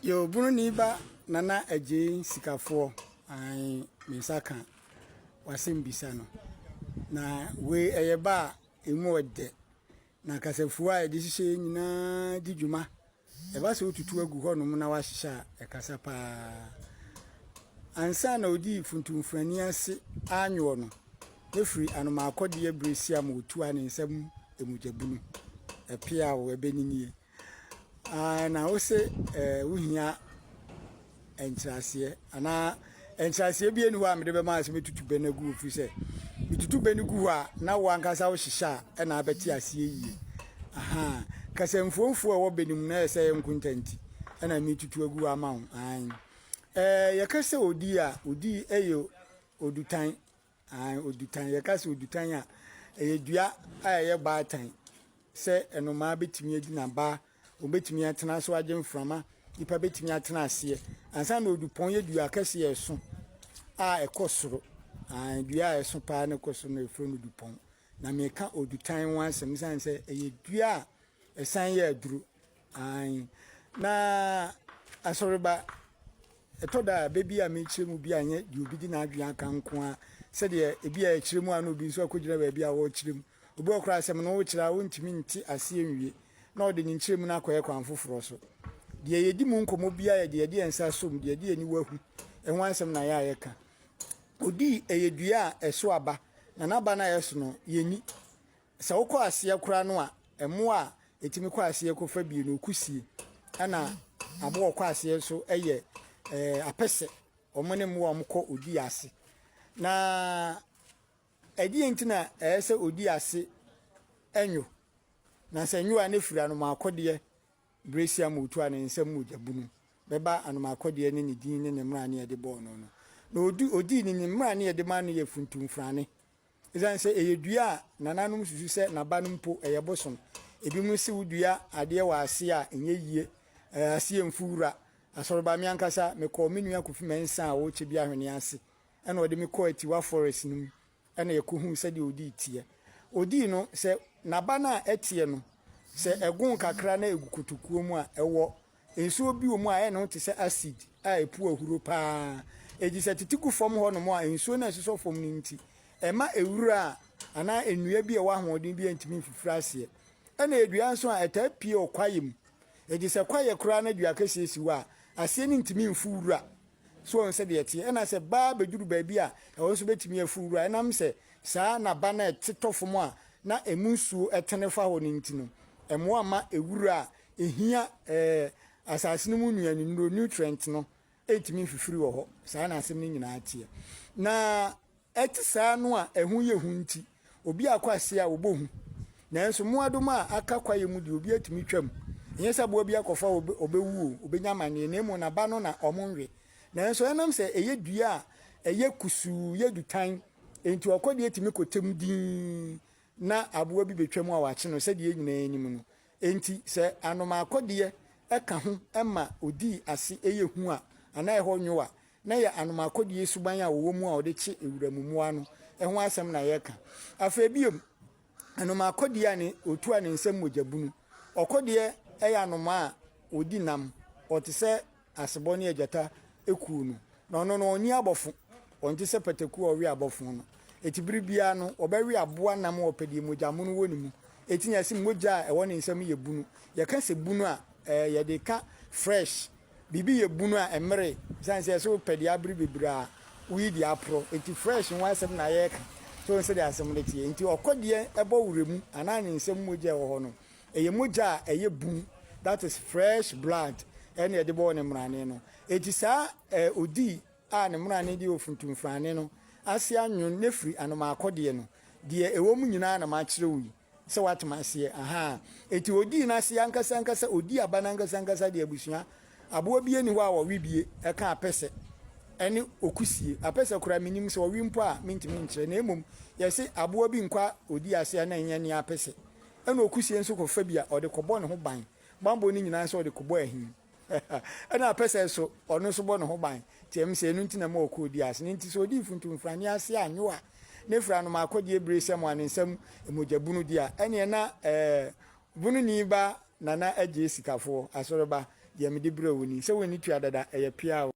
Yoo Buroni ba Nana Adjei Sikafoɔ ae me nsa ka w'asɛm bisa no na wei ɛyɛ ba a emu ɔdɛ na kasafuo a yɛde hyehyɛ yɛ nyinaa di dwuma ɛba sɛ wotutu agu hɔnom na wahyehyɛ a ɛkasa paa ansa na ɔdii funtumfrani ase anwoɔ no ne firi anomaakɔdeɛ bere siam wɔtua ne nsam ɛmugyabunu ɛpeaw ɛbɛninie Aah na wose eh, wohia nkyerɛaseɛ anaa nkyerɛaseɛ bi ani hɔ a mede bɛma sɛ mɛtutu bɛ no agu hɔ firi sɛ metutu bɛ no gu hɔ a na wo ankasa wohyehyɛ a ɛna abɛte aseɛ yie aha kasa mfuomfuo a ɛwɔ bɛ no mu na ɛyɛ sɛ yɛ nkonta nti ɛna metutu agu hɔ ama wo an ɛɛ yɛka sɛ odi a odi ɛyɛ odutan Aane, odutan, yɛka sɛ odutan a, ɛyɛ dua a ɛyɛ baatan sɛ nnomaa bɛtumi agyina baa, wɔbɛtumi atena so agye mframa, nipa bɛtumi atena aseɛ. Ansa na odupɔn yɛ dua kɛseɛ a ɛso a ɛkɔ soro. Aane, dua a ɛso paa na ɛkɔ soro na ɛfrɛ no dupɔn. Na meka odutan ho asɛm sane sɛ ɛyɛ dua a ɛsan yɛ aduro. Aane, na asɔreba, ɛtɔ da a, bɛ bi a mekyerɛ mu bi anyɛ deɛ obi de n'adwene aka nko ara, sɛdeɛ ebi a ɛkyerɛ mu a na obi nso akɔgyina baabi a ɔrekyerɛ mu. Obi wɔ koraa asɛm no wokyerɛ a ɔntumi nte aseɛ nwie, na ɔde ne nkyerɛmu no akɔyɛ kwan foforɔ so. Deɛ yɛdi mu nkɔmmɔ biara yɛ deɛ yɛde yɛn nsa som, deɛ yɛde yɛn aniwa hu, ɛho asɛm na yɛ a yɛka. Odii ɛyɛ dua a ɛso aba, na n'aba no a ɛso no, yɛnni. Sɛ wokɔ aseɛ koraa no a, mmoa a ɛtumi kɔ aseɛ kɔfa bi no, kusie, ɛna aboa a ɔkɔ aseɛ nso yɛ apɛsɛ. Wɔn ne mmoa a wɔkɔ odi ase. Na ɛdeɛ nti na ɛyɛ sɛ odi ase nwo? Na sɛ nwo a, na ɛfiri anomaakɔdeɛ Brasia motua ne nsam mogya bunu bɛba anomaakɔdeɛ ne ne din ne ne mmara ne ɛde bɔɔ no no. Na ɔdii ne ne mmara ne ɛde maa no yɛ funtumfrane Esiane sɛ ɛyɛ dua a nananom susu sɛ n'aba no mpo yɛ bosom. Ebinom se wodua adeɛ wɔ aseɛ a ɛnyɛ yie, aseɛ mfu wura. Asɔreba, me ankasa, mekɔɔ me nua Kofi Mensah a ɔwɔ Kyebi Ahweneɛ ase na ɔde me kɔɔ Atiwa Forest no mu na yɛkɔhuu sɛdeɛ ɔdii teɛ. Ɔdii no, sɛ n'aba no a ɛteɛ no, sɛ ɛgon kakra na ɛgu kotokuo mu a, ɛwɔ Nsuo bi wɔ mu a ɛyɛ ne ho te sɛ acid a ɛpu ahuro pa ara. Egye sɛ tete gu fam hɔnom a nsuo no resosɔ fam no nti, ɛmma nwura a anaa nnua bi a ɛwɔ ahoɔden biara ntumi mfifiri aseɛ. Ɛna yɛ dua nso a ɛtaa pue wɔ kwaeɛ mu. Egye sɛ kwaeɛ koraa na dua kɛseɛ si hɔ a, aseɛ no ntumi mfu wura. So wɔn sɛdeɛ ɛteɛ? Ɛna sɛ ba bɛduru baabi a ɛhɔ nso bɛtumi afu wura. Ɛnam sɛ saa na ba no ɛte tɔ fam a na ɛmu nsuo tene fa hɔ no nti no, ɛmmoa mma nwura a Ehia ɛɛ asase no mu nnuane nnuro, nutrient, no ntumi mfifiri wɔ hɔ. Saa na asɛm no nyinaa teɛ. Na ɛte saa no a ɛho yɛ hu nti, obi akɔ ase a ɔbɔ hu. Nanso mmoadoma a aka kwaeɛ mu deɛ obi atumi twam. Ɛnyɛ sɛ aboa bi akɔfa ɔbɛ ɔbɛwu o, ɔbɛnya amaneɛ na mmom n'aba no na wɔnwe. Nanso ɛnam sɛ ɛyɛ dua a ɛyɛ kusuu, yɛ dutan nti ɔkɔ deɛ tumi kɔtɛm dinn na aboa bi bɛtwam a wɔakye no sɛdeɛ yɛn nyinaa nim no. Enti sɛ anomaakɔdeɛ ka ho ma ɔdii ase yɛ hu a, anaa ɛhɔ nwo a, na ɛyɛ anomaakɔdeɛ suban a wɔwɔ mu a wɔde kye wuram mmoa no ho asɛm na yɛreka. Afei bio, anomaakɔdeɛ a ne otu a ne nsam mogya bunu. Ɔkɔdeɛ yɛ anomaa a ɔdi nam. Ɔte sɛ. Asebɔ ne agyata kuw no, na ɔno no onnyi abɔfo. Ɔnntse sɛ pataku a ɔwe abɔfo no. Etse ber biara no, ɔbɛwe abowa nam a ɔpɛ deɛ mogya mono wɔ ne mu. Etse nyinaa se mogya a ɛwɔ ne nsa mu yɛ bunu. Yɛka se bunu a, ɛɛ yɛde ka fresh. Biribi yɛ bunu a, ɛmmere. Esiane sɛ yɛse wopɛ deɛ abere bebree a, woyi deɛ aporɔ. Enti fresh ho asɛm na yɛreka. So wohu sɛdeɛ asɛm no teɛ? Enti ɔkɔdeɛ bɔ wura mu anaa ne nsa mu mogya a ɛwɔ hɔ no, Ɛyɛ mogya a ɛyɛ bum, that is fresh blood, ɛna ɛde bɔɔ ne mmrane no. Enti saa eh, odii a ne mmrane de ofuntumfrane no ase anwon na firi anomaakɔdeɛ no, deɛ ɛwɔ mu nyinaa na makyerɛ wo yi, sɛ woate m'aseɛ, ahaa. Enti odii n'aseɛ ankasa ankasa, odii aba no ankasa ankasa deɛ abusua aboa biara nni hɔ a ɔwe bie, ɛka apɛsɛ ɛne okusie. Apɛsɛ koraa menim, sɛ ɔwe mpo a mentumi nkyerɛ, na mmom yɛse aboa bi nkwa odi aseɛ a na ɛnyɛ nea apɛsɛ Ɛna okusie nso kɔ fa bi a ɔde kɔbɔ ne ho ban. Banbɔ no nyinaa sɛ ɔde kɔbɔ ahin. Ɛna apɛsɛ nso, ɔno nso bɔ ne ho ban. Nti ɛm sɛ ɛno nti na ɛma ɔkɔ odi ase no. Nti sɛ ɔdi mfuntu mfrane ase a, nyowa, ne fra no ma akɔdeɛ bire sɛ mo a ne nsa mu mogya bunu deɛ a, ɛneɛ na ɛɛ bununi ba Nana Agyee Sikafoɔ, Asɔreba, deɛ mede brɛ wo ni. Sɛ wonni tua dada, ɛyɛ pea o.